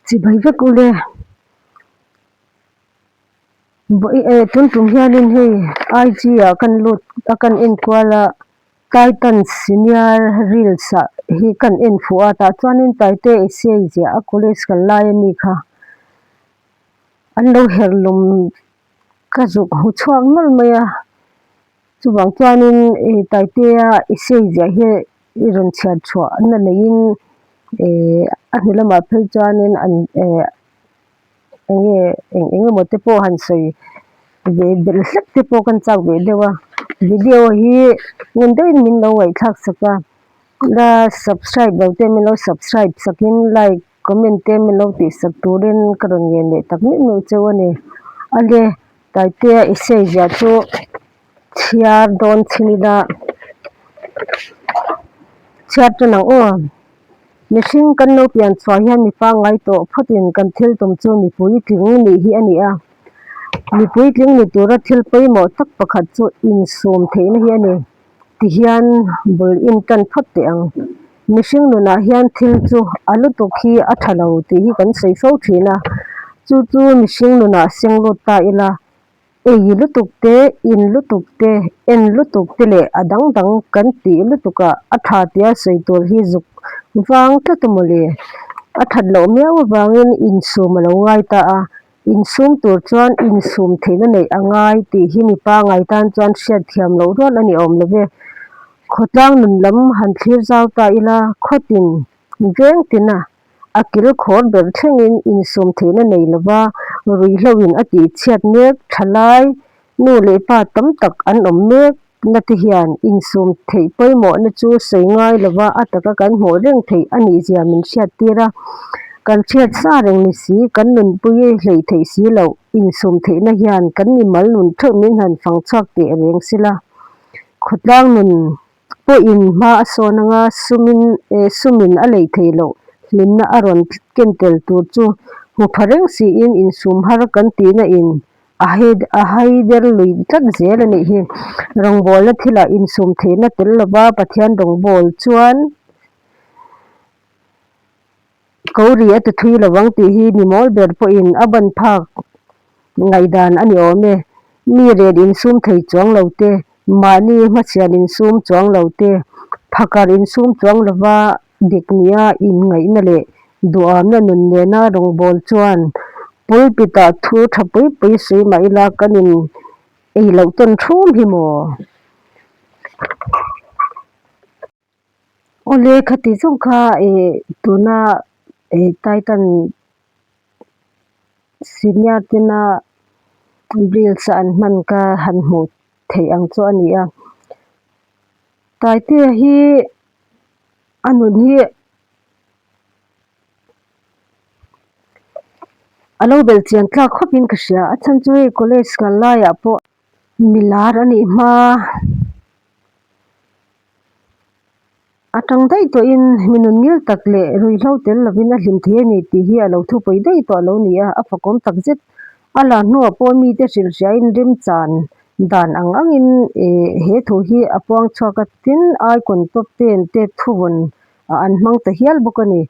chibai vek ule tuntum hianin hei IG ah kan lut a kan enkual a titans senior reels ah hi kan enfuh a tah chuanin taite sa zia a college kal lai ami kha an lo herh lawm ka zuk hmu chhuak nawlh mai a. Chuvang chuanin ih Taitea i sei ziah hi i rawn chhiar chhuah na neiin ih a hnu lamah phei chuanin an eh eng nge eng eng emaw te pawh han sawi ve belh hlek te pawh ka han chak ve deuh a. Video hi ngun deuhin min lo ngaihthlak sak a, la subscribe lo te min lo subscribe sakin like Comment te min lo tih sak turin ka rawn ngen leh tak meuh meuh cheu a ni. Ahle Taitea Isaiah chu chhiar dawn chhin ila chhiar tan ang aw. Mihring kan lo pian chhuah hian mi pangngai tawh phawtin kan thil tum chu mipui tling nih hi a ni a. Mipui tling ni tura thil pawimawh tak pakhat chu insum theihna hi a ni. ti hian bul in tan phawt teh ang. Mihring nunah hian thil chu a lutuk hi a tha lo tih hi kan sawi fo thin a, chu chu mihring nunah senglut ta ila ei lutuk te, in lutuk te, en lutuk te leh a dang dang kan tih lutuka a tha tia sawi tur hi zuk vang tlat a maw le? A that loh miau avangin insum a lo ngai ta a, Insum tur chuan insum theihna neih a ngai tih hi mi pangai tan chuan hriat thiam loh rual a ni awm lo ve. Khawtlang nun lam han thlir zau ta ila khawtin veng tina a kil khawr ber thlengin insum theihna nei lova ruihloin a tihchhiat mek tha lai Nu leh pa tam tak an awm mek nate hian insum theih pawimawhna chu sawi ngai lova a taka kan hmuh reng theih a nih zia min hriat tir a. Kan hriat sa reng ni si, kan nunpui hleih theih si lo, insum theihna hian kan mimal nun theuh min han fang chhuak teh reng sila. Khawtlang nun. Pawhin hma a sawn anga sumin eh sumin a leih theih loh hlimna a rawn ken tel tur chu hmu pha reng siin insum har kan tihna in a a hai der lui tlat zel a nih hi. Rawngbawlna thila insum theihna tel lova Pathian rawngbawlchuan. Ko ri a ti thui lovang tih hi ni mawl ber pawhin a ban phak ngaihdan a ni awm e. Mi ren insum thei chuang lo te, mahni hmachhian insum chuang lo te, phakar insum chuang lova dik nia inngaihna leh duhawmna nun nena rawngbâwl chuan pulpitah thu tha pui pui sawi mah ila kan in ei loh tawn thum hi maw? Awle khati zawng kha eh tuna eh Titan senior tena reels an hman kha han hmuh theih ang chu a ni a. Taite hi a nun hi a lo bel chian tlak khawp in ka hria. A chhan chu hei college ngal laiah pawh milar a nih hma. A tang daih tawh in mi nun ngil tak leh ruihhlo tel lo in a hlim thei a ni tih hi a lo thupawi daih tawh lo ni a, a fakawm tak zet a la hnua pawh mi te hrilh hria in remchan dan ang ang in eh he thu hi a puang chhuak atin Aikawng top ten te thuvawn ah an hmang ta hial bawk a ni.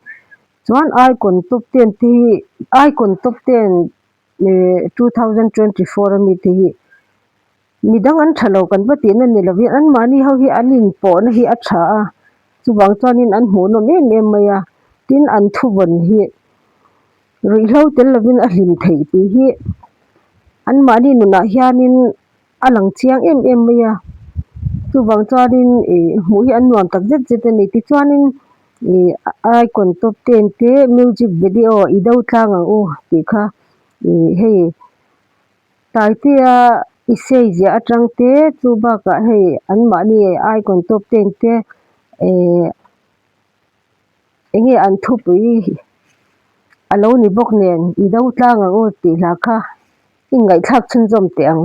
Chuan Aikawng top ten te hi Aikawng top ten eh two thousand twenty four a mi te hi-- Midang an tha lo kan va tihna a ni lovin an mahni ho hi an inpawhna hi a tha a, chuvang chuanin an hmuhnawm em em mai a, tin an thuvawn hi ruihhlo tel lovin a hlim theih tih hi an mahni nunah hianin a lang chiang em em mai a, chuvang chuanin ih hmuh hi an nuam tak zet zet a ni. Tichuanin ih a icon top ten te music video i do tlang ang u tih kha ih hei Taitea isei ziah atang te chu bakah hei an mahni aikawn tawp te in te ehh eng nge an thupui a lo ni bawk nen i do tlang ang aw tih hlah kha i ngaihthlak chhunzawm teh ang.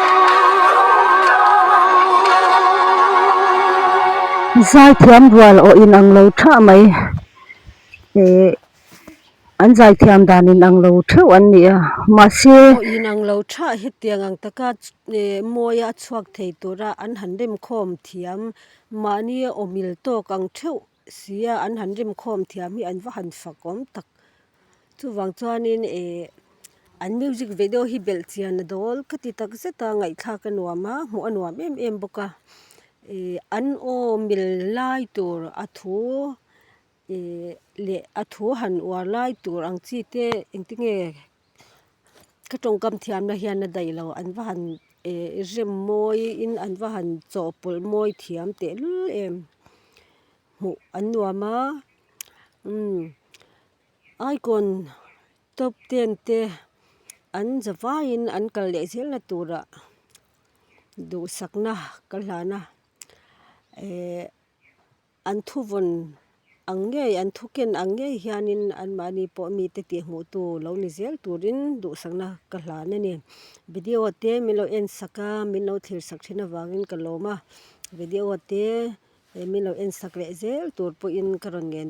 Zaithiam rual aw in ang lo tha mai eh an zaithiam dan in ang lo theuh an ni a mahse aw in ang lo tha hetiang ang taka eh mawia a chhuak thei tura an han rem khawm thiam mahni awmil tawk ang theuh. Sia an han rim khawm thiam hi an va han fak awm tak. Chuvang chuanin eh an music video hi belh chian a dawl ka ti tak zet a, ngaihthlak a nuam a, hmuh a nuam em em bawk a. Eh an awmil lai tur a thu eh leh a thu han uar lai tur ang chi te engtinge. Ka tawngkam thiamna hian a daih lo, an va han eh rem mawiin an va han chawhpawlh mawi thiam tehlul em, hmuh an nuam a, aikawn top ten te an za vaiin an kal leh zel na tura duhsakna ka hlan a eh. An thu vawn ang ngei, an thu ken ang ngei hianin anmahni pawh mite tih hmuhtu lo ni zel turin duhsakna ka hlan a ni. Video te min lo en sak a, min lo thlir sak thin avangin ka lawm a, video te min lo en sak leh zel tur pawhin ka rawn ngen dawn.